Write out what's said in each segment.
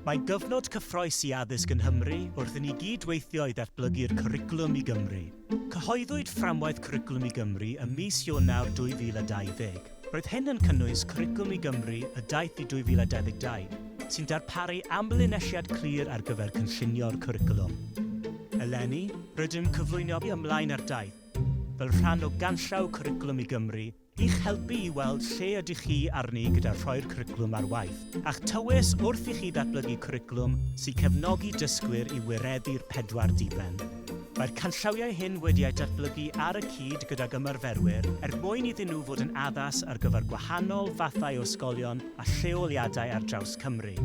Mae'n gyfnod cyffrous i addysg yn Nghymru wrth i ni gyd weithio i ddatblygu'r Cwricwlwm i Gymru. Cyhoeddwyd Fframwaith Cwricwlwm i Gymru ym mis Ionawr 2020. Roedd hyn yn cynnwys Cwricwlwm i Gymru y daeth i 2022, sy'n darparu amlinelliad clir ar gyfer cynllunio'r cwricwlwm. Eleni, rydym yn cyflwyno ymlaen â'r daith, fel rhan o ganllaw Cwricwlwm i Gymru, I'ch helpu i weld lle ydych chi arni gyda rhoi'r cwricwlwm ar waith, a'ch tywys wrth i chi ddatblygu cwricwlwm sy'n cefnogi dysgwyr i wireddu'r pedwar diben. Mae'r canllawiau hyn wedi eu datblygu ar y cyd gydag ymarferwyr er mwyn iddyn nhw fod yn addas ar gyfer gwahanol fathau o ysgolion a lleoliadau ar draws Cymru.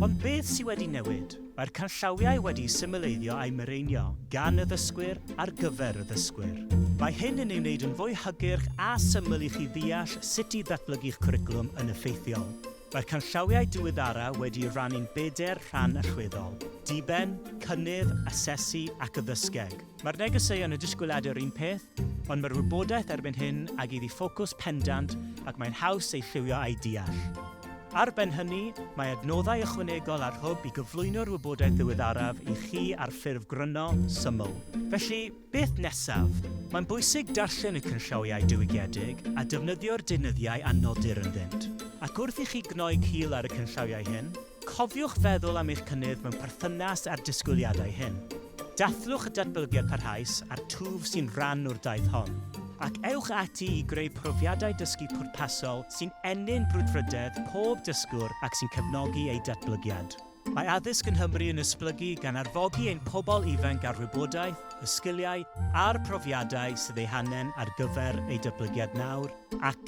Ond beth sydd wedi newid? Mae'r canllawiau wedi'u symleiddio a'u mireinio gan y ddysgwyr ar gyfer y ddysgwyr. Mae hyn yn ei wneud yn fwy hygyrch a syml i chi ddeall sut i ddatblygu'ch cwricwlwm yn effeithiol. Mae'r canllawiau diweddara' wedi'u rannu'n bedair rhan allweddol, Diben, Cynnydd, Asesu ac Addysgeg. Mae'r negeseuon y disgwyliad yr un peth, ond mae'r wybodaeth erbyn hyn ag iddi ffocws pendant ac mae'n haws ei lliwio a'i deall. Ar ben hynny, mae adnoddau ychwanegol ar Hwb i gyflwyno'r wybodaeth ddiweddaraf i chi ar ffurf gryno, syml. Felly, beth nesaf? Mae'n bwysig darllen y canllawiau diwygiedig a defnyddio'r deunyddiau a nodir ynddynt. Ac wrth i chi gnoi cil ar y canllawiau hyn, Cofiwch feddwl am eich cynnydd mewn perthynas â'r disgwyliadau hyn. Dathlwch y datblygiad parhaus a'r twf sy'n rhan o'r daith hon, ac ewch ati i greu profiadau dysgu pwrpasol sy'n ennyn brwdfrydedd pob dysgwr ac sy'n cefnogi eu datblygiad. Mae addysg yn Nghymru yn esblygu gan arfogi ein pobl ifanc â'r wybodaeth, y sgiliau a'r profiadau sydd eu hangen ar gyfer eu datblygiad nawr ac